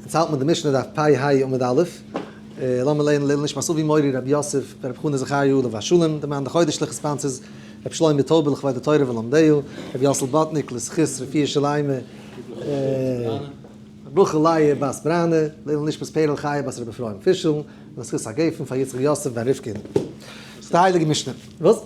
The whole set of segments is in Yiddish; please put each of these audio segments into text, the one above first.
אונז האלט מען די משנה דף פ ה עמוד א', לאמיר לערנען לעילוי נשמת אבי מורי רבי יוסף בן רבי חנא זכריה עליו השלום, דער מאן דחודש לכת פנס איז רבי שלמה טויבער לכבוד התורה ולומדיה, רבי יוסל באטניק לזכות רפואה שלימה, רחל ליה בת ברנע, לעילוי נשמת פערל חיה בת רבי אפרים פישל, לזכות הגפן פאר יצחק יוסף בן רבקה. זאגט די הייליגע משנה. וואס?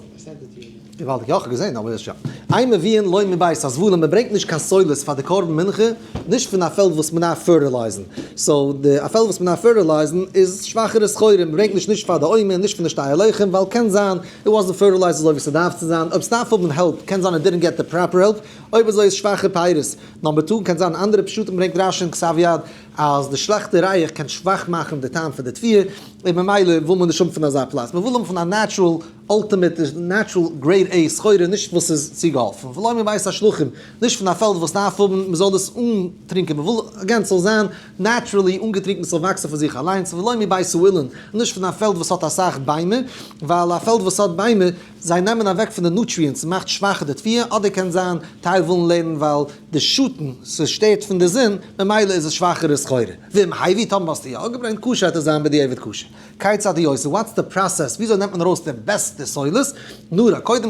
געוואלדיג, יא כ'האב געזען אבער יא. איין מביאין לוי מבית הזבלים, מען ברענגט נישט קיין סולת פאר די קרבן מנחה, נישט פון א פעלד וואס מען דארף פערטילייזן, סאו די א פעלד וואס מען דארף פערטילייזן איז שוואכערע סחורה, מען ברענגט נישט נישט פאר די עומר, נישט פון די שתי הלחם, ווייל קען זיין איט וואזנט פערטילייזד אזוי ווי ס'דארף צו זיין, אויב ס'דארף האבן העלפ קען זיין איט דידנט געט די פראפער העלפ, אויב אזוי איז שוואכע פירות. נאמבער טו, קען זיין אנדערע פשטים ברענגט רשי און כסף יד, אז די שלעכטע רייעך קען שוואך מאכן די טעם פון די תביעה, און ממילא וויל מען נישט האבן פון אזא פלאץ, מען וויל האבן פון א נעטשרעל אלטימעט נעטשרעל גרעיד עי סחורה, נישט וואס איז צוגעהאלפן, ולא מבית השלוחים, נישט פון א פעלד וואס דארף האבן מען זאל דאס אנטרינקען, מען וויל אגעין ס'זאל זיין נעטשרעלי אנגעטרינקן ס'זאל וואקסן פון זיך אליינס, ולא מבית האילן, נישט פון א פעלד וואס האט אסאך ביימער, ווייל א פעלד וואס האט ביימער, זיי נעמען אוועק פון די נוטריענטס און מאכט שוואכער די תביעה, אדער קען זיין טייל ווילן לערנען ווייל די שאטן, ס'שטערט פון די זון, ממילא איז עס שוואכערע סחורה. ואם האי ווי טאמער האסטו יא געברענגט קשר וועט עס זיין בדיעבד כשר. כיצד היא עושה, וואטס די פראסעס, וויאזוי נעמט מען ארויס די בעסטע סולת? נארא, קודם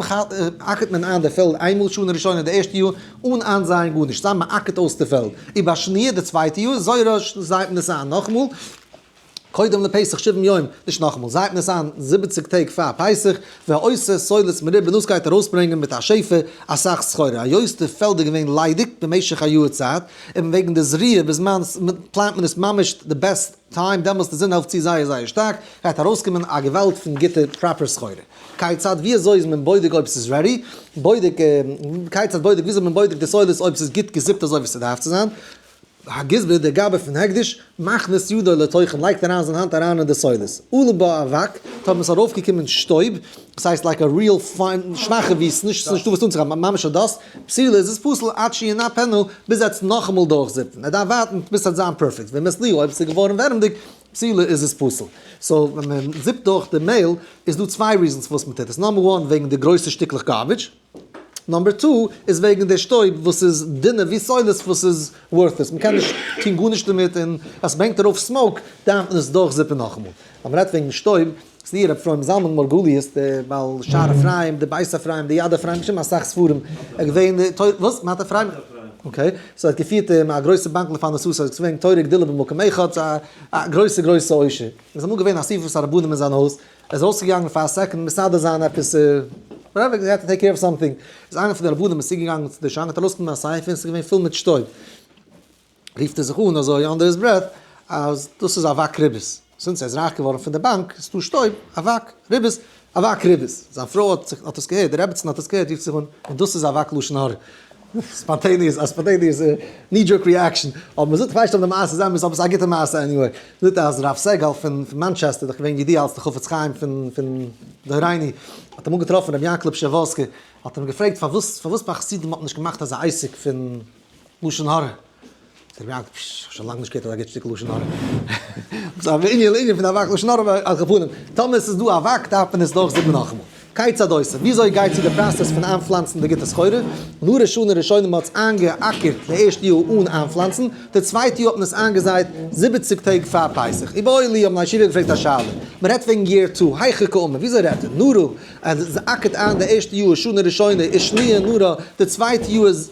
אקערט מען איין די פעלד איינמאל שנה ראשונה די ערשטע יאר אן איינזייען גארנישט, סתם מען אקערט אויס די פעלד, און ביי שני' די צווייטע יאר זויערע זייט מען עס איין נאכאמאל, קודם לפסח שבעים יום, נישט נאכאמאל, זייט ניסן זיבעציג טעג פאר פסח, והעושה סולת מרובה, און דאס גייט ארויסברענגען מיט א שפע אסאך סחורה, היות די פעלד איז געווען ליידיג במשך א יאהר צייט, און וועגן די זריעה ביז מען פלאנט מען איז ממש די בעסט טיים, דעמאלס די זון העלפט צו זייער זייער שטארק, גייט ארויסקומען א געוואלד פון גוטע פראפער סחורה. כיצד ווי אזוי איז מען בודק אויב ס'איז רעדי, בודק כיצד בודק ווי אזוי איז מען בודק די סולת אויב ס'איז גוט געזיפט אזוי ווי ס'דארף צו זיין, הגזבר דער גאבע פון הקדש, מכניס ידו לתוכן, לייגט אריין זיין האנט אריין אין די סודות, עלה בה אבק, טאמער עס איז ארויף געקומען שטויב, דאס הייסט לייק א ריעל פיין, שוואכע ווי עס איז נישט דא וואס אנצוגיין, ממש א דאסט, פסילה איז עס פסול עד שיענה פענו, ביז ער האט עס נאכאמאל דורך זיפן, ער דארף ווארטן ביז עס האט זיין פערפעקט, ואם הסליו אויב עס איז געווארן ווערעמדיג, פסילה איז עס פסול. סאו ווען מען זיפט דורך די מעיל איז דא צוויי ריזענס פארוואס מען טוט עס, נאמבער וואן וועגן די גרויסע שטיקלעך גארבידזש, נאמבער טו איז וועגן די שטויב וואס איז דינע ווי סאילעס וואס איז ווארטלעס מען קען נישט טוהן גארנישט דערמיט און אז מען הענגט ארויף סמאוק דארף מען עס דורך זיפן נאכאמאל אז מען רעדט וועגן שטויב ס'ניער אפרים זלמן מרגליות די בעל שער אפרים די בית אפרים די יד אפרים געשריבן אסאך ספרים ער איז געווען די תורה וואס? מת אפרים? אקעי סאו ער האט געפירט אין א גרויסע באנק לפענ ד סאו סאיז געווען תורה גדולה במקום אחד א גרויסע גרויסע עושר איז אמאל געווען אסיפת הרבנים אין זיין הויז ער איז אויסגעגאנגען פאר א סעקאנד מסדר זיין עפעס, וואטעווער, ער האט טו טעיק קעיר אוו סאמטינג, איז איינער פון די רבנים איז צוגעגאנגען צו די שיין האט ארויסגענומען א ספר און עס איז געווען פול מיט שטויב, רופט ער זיך אן אזוי אנדער היז ברעט אז דאס איז אבק ריבית, זינט ער איז רייך געווארן פון די באנק איז דא שטויב, אבק ריבית, אבק ריבית, זיין פרוי האט עס געהערט, די רעבעצין האט עס געהערט רופט זיך אן, און דאס איז אבק לשון הרע, ספאנטעניעס, א ספאנטעניעס ני דזשערק ריעקשאן, אויב מ'זאגט כ'ווייס נישט אויב די מעשה איז אמת, אבער ס'איז א גוטע מעשה עניוועי, זאגט אז הרב סעגאל פון מאנטשעסטער, דאך געווען ידוע אלס די חפץ חיים פון פון דהרייני, האט אמאל געטראפן רבי יענקעלע פשעווארסקי, האט אים געפרעגט פארוואס פארוואס ביי חסידים האט מען נישט געמאכט אזא עסק פון לשון הרע. דער רב, פש, כ'האב שוין לאנג נישט געהערט אזא גוט שטיקל לשון הרע. ס'איז א מין אינען פון א וואק לשון הרע ביי על כפנים. טאמער ס'איז דא א וואק דארף מען עס דורך זאגן נאכאמאל. כיצד עושה? וויאזוי גייט צו די פראסעס פון איינפלאנצן די גוטע סחורה? און נאר ראשונים ראשונים האט עס איינגעאקערט די ערשטע יאר אן איינפלאנצן, די צווייטע יאר האט מען עס איינגעזייט זיבעציג טעג פאר פסח. ובאו אלי האבן א ישיבה געפרעגט א שאלה. מען רעדט וועגן יער טו, היכי קאומא, וויאזוי רעדט איר? נרו, אז עס אקערט איין די ערשטע יאר שנה ראשונה איז שניה נרו, די צווייטע יאר איז.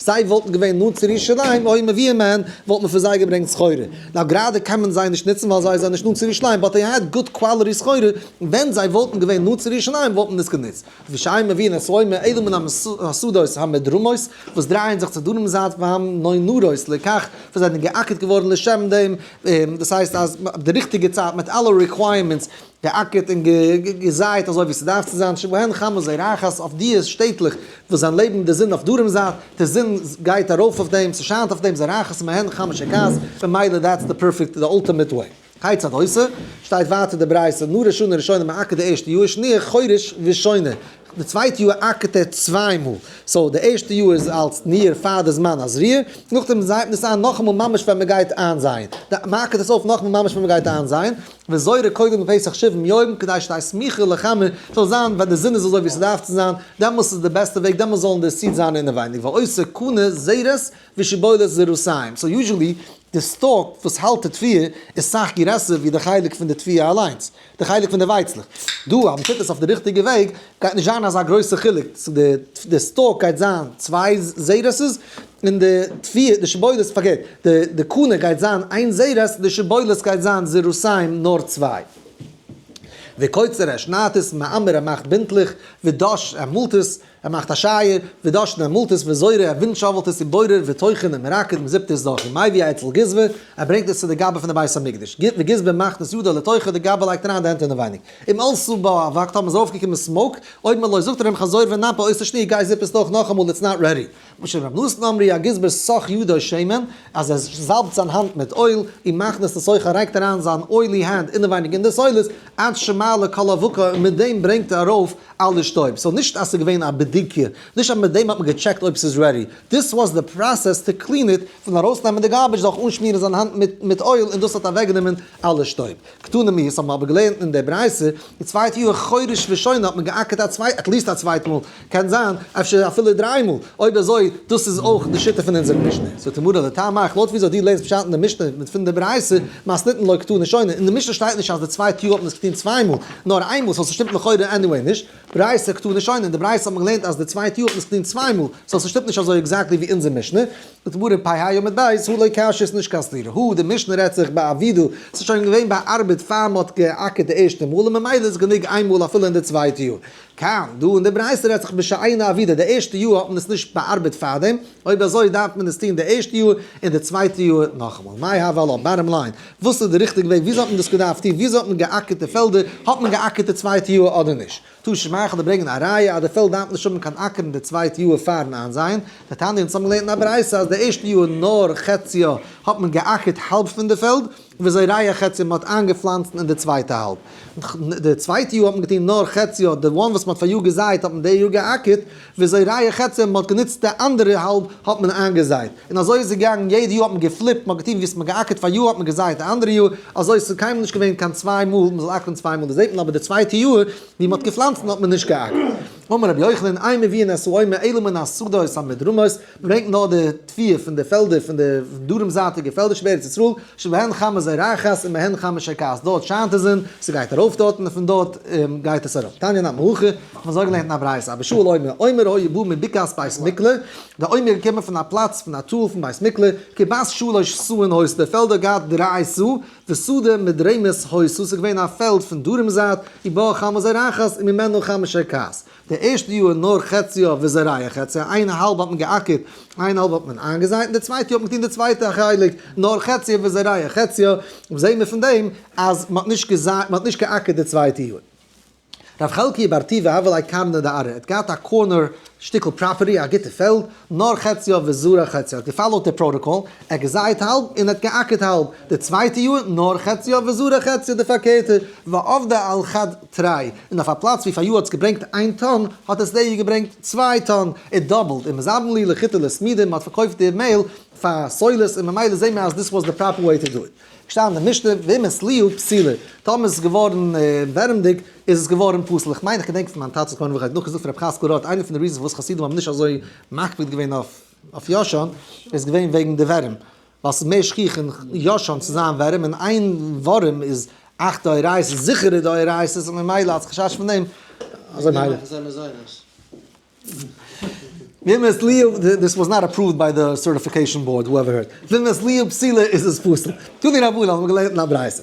זיי וואלטן געווען נאנט צו ירושלים, אוי מביאים מהן, וואלט מען פון זיי געברענגט סחורה. נאר גראדע קען מען זיי נישט נוצן ווייל זיי זענען נישט נאנט צו ירושלים, באט דעי העד גוד קוואלעטי סחורה, ווען זיי וואלטן געווען נאנט צו ירושלים וואלט מען עס גענוצט. ווי שאין מביאין את רומי אלא מן המוסדות המדרומות, וואס דרייען זיך צו דרום זייט והן נאנרות לכך, וואס זענען געאקערט געווארן לשם דעם, דאס הייסט אז די ריכטיגע צייט מיט אלע ריקווייערמענטס, געאקערט און געזייט אזוי ווי ס'דארף צו זיין, שבהן חמס זרעך, אויף די שטעטלעך וואס זיין לעבן די זון אויף דרום זייט, די זון גייט ארויף אויף דעם, ס'שיינט אויף דעם זרעך, מהן חמס שכז, ממילא דעטס די פערפעקט די אלטימעט וועי. כיצד עושה? שטייט ווייטער די ברייתא, נא ראשונה ראשונה מעקר די ערשטע יאר, שני' חורש ושונה, די צווייטע יאר עקרט ער צוויי מאל, סאו די ערשטע יאר איז אלס ניער פאר די זמן הזריעה, נאכדעם זייט מען עס איין נאכאמאל ממש ווען מ'גייט איינזייען, מעקרט עס אויף נאכאמאל ממש ווען מ'גייט איינזייען, וזוי ר' קודם פסח שבעים יום כדי שתהיה סמיכה לחמה זאל זיין ווען די זון איז אזוי ווי ס'דארף צו זיין דעמאלס איז די בעסטע וועג דעמאלס זאלן די סידס זיין אינעווייניג ועושה קנה זרת ושיבולת זרעותיים סאו יוזשעלי די סטאלק וואס האלט די תביעה איז סאך גרעסער ווי די חלק פון די תביעה אליינס די חלק פון די ווייצלעך דא אז מ'טוט עס אויף די ריכטיגע וועג גייט נישט זיין אזא גרויסע חילוק צו די סטאלק גייט זיין צוויי זרעות'ס און די תביעה, די שבועות, פארקערט, די די קנה גייט זיין איין זרז, די שבועות גייט זיין זרזים נאר צוויי. וקוצר ער שניידט עס, מעמר ער מאכט בינטלעך, ודש ער מאלט עס, ער מאכט א שייער, ודשן ער מאלט עס, וזורע ער ווינטשאוועלט עס, און בורר וטוחן ער מרקד מען זיפט עס דורך, ומביא א אצל גזבר, ער ברענגט עס צו די גאבע פון די בית המקדש, וגזבר מכניס ידו לתוכה, די גאבע לייגט אריין די הענט אינעווייניג. אם אלסו בא אבק, טאמער איז ארויפגעקומען סמאוק, אויב מען לויז זאגט ער אים חזור ונאפה עושה שני' גיי זיפ עס דורך נאכאמאל איטס נאט רעדי. משום רב נתן אמרי הגזבר סח ידו שמן, אז ער זאלבט זיין האנט מיט אויל, און מכניס את אויך ער לייגט אריין זיין אוילי הענט אינעווייניג אין די סולת, עד שמעלה כל אבקה, און מיט דעם ברענגט ער ארויף אלע שטויב. סאו נישט אז ס'איז געווען א בדיקה, נישט אז מיט דעם האט מען געטשעקט אויב ס'איז רעדי, דיס וואס די פראסעס טו קלין איט, פון ארויסנעמען די גארבידזש דורך אנשמירן זיין האנט מיט אויל, און דאס האט אוועקגענומען אלע שטויב. קטנים מיר, עס האבן אבער געלערנט אין דער ברייתא, די צווייטע יאר חודש ראשון האט מען געאקערט א צווייט, עטליסט א צווייט מאל, קען זיין אפשר אפילו דריי מאל, אויב אזוי, דאס איז אויך די שיטה פון אונזער משנה. זאגט די מרא דאתרא, מאך לויט וויאזוי דו לערנסט פשט אין די משנה מיט פון די ברייתא, מיינסט ניתן לו כתו נשונה, אין די משנה שטייט נישט אז די צווייטע יאר האט מען עס געטון צוויי מאל, נאר איין מאל, סאו ס'שטימט לכאורה עניוועי נישט, ברייתא כתו נשונה, אין די ברייתא האט מען געלערנט אז די צווייטע יאר האט מען עס געטון צוויי מאל, סאו ס'שטימט נישט אזוי עקזעקטלי ווי אונזער משנה. דברים פ ה יומא דאית הוא, לא קשיא עס נישט קיין סתירה הוא, די משנה רעדט זיך ביי א ווידו, עס איז שוין געווען באארבעט פאר מען האט גע'אקערט די ערשטע מאל און ממילא איז גענוג איין מאל אפילו אין די צווייטע יאר. כאן, דא אין די ברייתא רעדט זיך בשע איין אבידה, די ערשטע יאר האט מען עס נישט באארבעט פארדעם, אויב אזוי דארף מען עס טון די ערשטע יאר און די צווייטע יאר נאכאמאל. מאי הוה לו, באטאם ליין, וואס איז די ריכטיגע וועג, וויאזוי האט מען דאס געדארפט טון, וויאזוי האט מען גע'אקערט די פעלדער, האט מען גע'אקערט די צווייטע יאר אדער נישט? טאָ שמײכלט און ברענגט אַ ראיה, אַז די פֿעלד דאַרף נישט האָבן קײן אַקערן די צװײטע יאָר פֿאַרן אײַנזײען. די תּענית אונדז האָבן געלערנט אין אַ ברייתא, אַז די ערשטע יאָר, נאָר חציו, האָט מען געאַקערט האַלב פֿון די פֿעלד, װיִאַזױ ראיה חציו, מע האָט אײַנגעפֿלאַנצט אין די צװײטע האַלב. די צװײטע יאָר האָט מען געטאָן נאָר חציו, די װאָן װאָס מע האָט פֿאַר יאָר געזײט, האָט מען די יאָר געאַקערט. וויאזוי רעיא חצר מ'האט גענוצט די אנדערע האלב האט מען איינגעזייט און אזוי איז עס געגאנגען יעדע יאר האט מען געפליפט מ'האט געטון ווי ס'האט מען געאקערט פאר יאר האט מען געזייט די אנדערע יאר אזוי ס'איז קיינמאל נישט געווען קיין צוויי מאל מ'זאל אקערן צוויי מאל דאס זעט מען אבער די צווייטע יאר ווי מ'האט געפלאנצן האט מען נישט געאקערט אמר רבי יוחנן איי מביאין עשו עומר אלא מן השדות המדרומות ברענגט נאר די תביעה פון די פעלדער פון די דרום זייטיגע פעלדער שבארץ ישראל, שבהן חמה זרחת און מהן חמה שקעת, דארט שיינט די זון, ס'גייט ארויף דארט און פון דארט גייט עס אראפ. תניא נט מא הכי, כ'האב אזוי געלערנט אין א ברייתא, אבער שאול אומר, אומר היה בא מבקעת בית מקלע, דער אומר איז געקומען פון א פלאץ פון א טאל פון בית מקלע, כבת שלש סאה אין הויז, די פעלד האט געהאט דריי סאה, וסדה מדרומית הויז, סאו ס'איז געווען א פעלד פון דרום זייט, ובאה חמה זרחת און ממנה חמה שקעת. די ערשטע יאר נאר חציו וזרעיו חציו, איין האלב האט מען געאקערט, איין האלב האט מען איינגעזייט, און די צווייטע יאר האט מען געטון די צווייטע חלק נאר חציו וזרעיו חציו, וואס זעהן מיר פון דעם אז מען האט נישט געזייט, מען האט נישט געאקערט די צווייטע יאר. ר' חלקי בר טוביה הב עלי קרני דארה, ער האט געהאט א קארנער שטיקל פראפערטי, א גוטע פעלד, נאר חציו וזרעיו חציו, ער האט געפאלאוט די פראטאקאל, ער האט געזייט האלב און ער האט געאקערט האלב, די צווייטע יאר נאר חציו וזרעיו חציו די פארקערטע, ועבדה על חד. טריי, און אויף א פלאץ ווי פאריאר האט עס געברענגט איין טאן, האט עס די יאר געברענגט צוויי טאן, איט דאבלד, און מען זאמלן לי לחיטה לסמידה, מען האט פארקויפט די מעהל פאר סולת, און ממילא זעהן מיר אז דיס וואס די פראפער וועי טו דו איט. געשטאנען אין די משנה, ואם עס ליו פסילה, טאמער עס איז געווארן ווערעמדיג, איז עס געווארן פסול, איך מיין איך געדענק פון מיין טאטע זכרונו לברכה האט נאך געזאגט פון רבי חזקל רוט, איינע פון די ריזענס פארוואס חסידים האבן נישט אזוי מקפיד געווען אויף ישן, איז געווען וועגן די ווערים. ווייל ס'איז מער שכיח אין יא שוין צו זיין ווארים און איין ווארים איז אכט דאורייתא'ס זיכערע דאורייתא'ס און ממילא אלס חשש פון דעם אזוי מיילער. אזוי מזונות. וומס ליו דיס וואס נאט אפראווד ביי די סערטיפיקעישאן באורד הואעווער הערט. וומס ליו פסילה איז עס פסול. תנו לי רבנן האט מען געלערנט אין א ברייתא.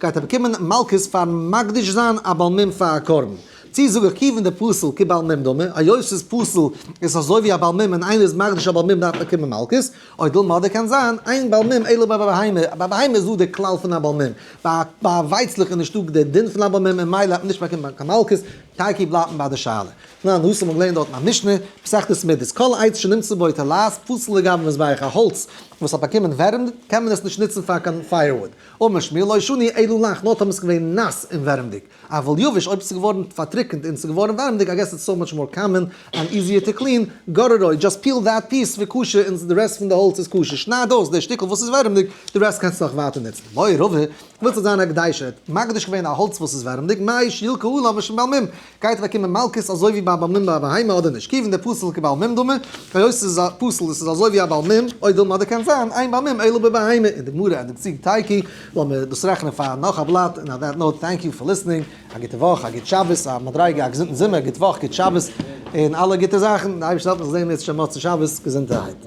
גייט ער באקומען מלקות פארן מקדיש זיין א בעל מום פאר א קרבן? צי זאג איך כיוון די פסול כבעל מום דומה, היות ס'איז פסול איז עס אזוי ווי א בעל מום און איינער איז מקדיש א בעל מום דארף באקומען מלקות, אוי דילמא אדער קען זיין איין בעל מום אלא ביי בהמה, ביי בהמה איז דא די כלל פון א בעל מום, ביי א ווייצלעך איז נישטא די דין פון א בעל מום און מילא האט מען נישט באקומען קיין מלקות, טייקי בלייבן ביי די שאלה. תנא נאסר מ'האט געלערנט דארטן א משנה, מסכת סמידות, כל עץ שנמצא בו תולעת פסול לגבי מזבח, א האלץ וואס האט באקומען ווערים קען מען עס נישט נוצן פאר קיין פייערוואוד, אמש מי לא שני אלא לך, נאר טאמער ס'איז געווען נאס און ווערעמדיג, אבל יבש, אויב ס'איז געווארן פארטריקענט און ס'איז געווארן ווערעמדיג, איי געס איטס סאו מאטש מאר קאמען ענד איזיער טו קלין, גאר עראי, דזשאסט פיל דעט פיס ווי כשר און די רעסט פון די האלץ איז כשר, שנייד אויס די שטיקל וואס איז ווערעמדיג, די רעסט קענסטו נאך ווייטער נוצן. מוהרא ר, ווילסט זיך זיין א קדושה, האט מקדיש געווען א האלץ וואס איז ווערעמדיג, מאי שיל קהלא משמעל מ, גייט אוועק קומען מלקות אזוי ווי ביי א באלמין ביי א בהמה אדער נישט? כיוון דער פסל איז כבעל מום דומה, היות עס איז א פסל און עס איז אזוי ווי א בעל מום, אויב וויל מען אדערקענט זיין אין בעל מום אלא בבהמה, אין די גמרא אין די צוג טייקי, לאמיר דאס רעכענען פאר נאך א בלאט, און אויף דעט נאוט טענק יו פאר ליסטענינג, א גוטע וואך, א גוט שבת, א מדריגה, א געזונטן זומער, גוט וואך, גוט שבת, און אלע גוטע זאכן, די אייבערשטער העלפן זיך זעהן מיר צו שוין מוצאי שבת, געזונטערהייט.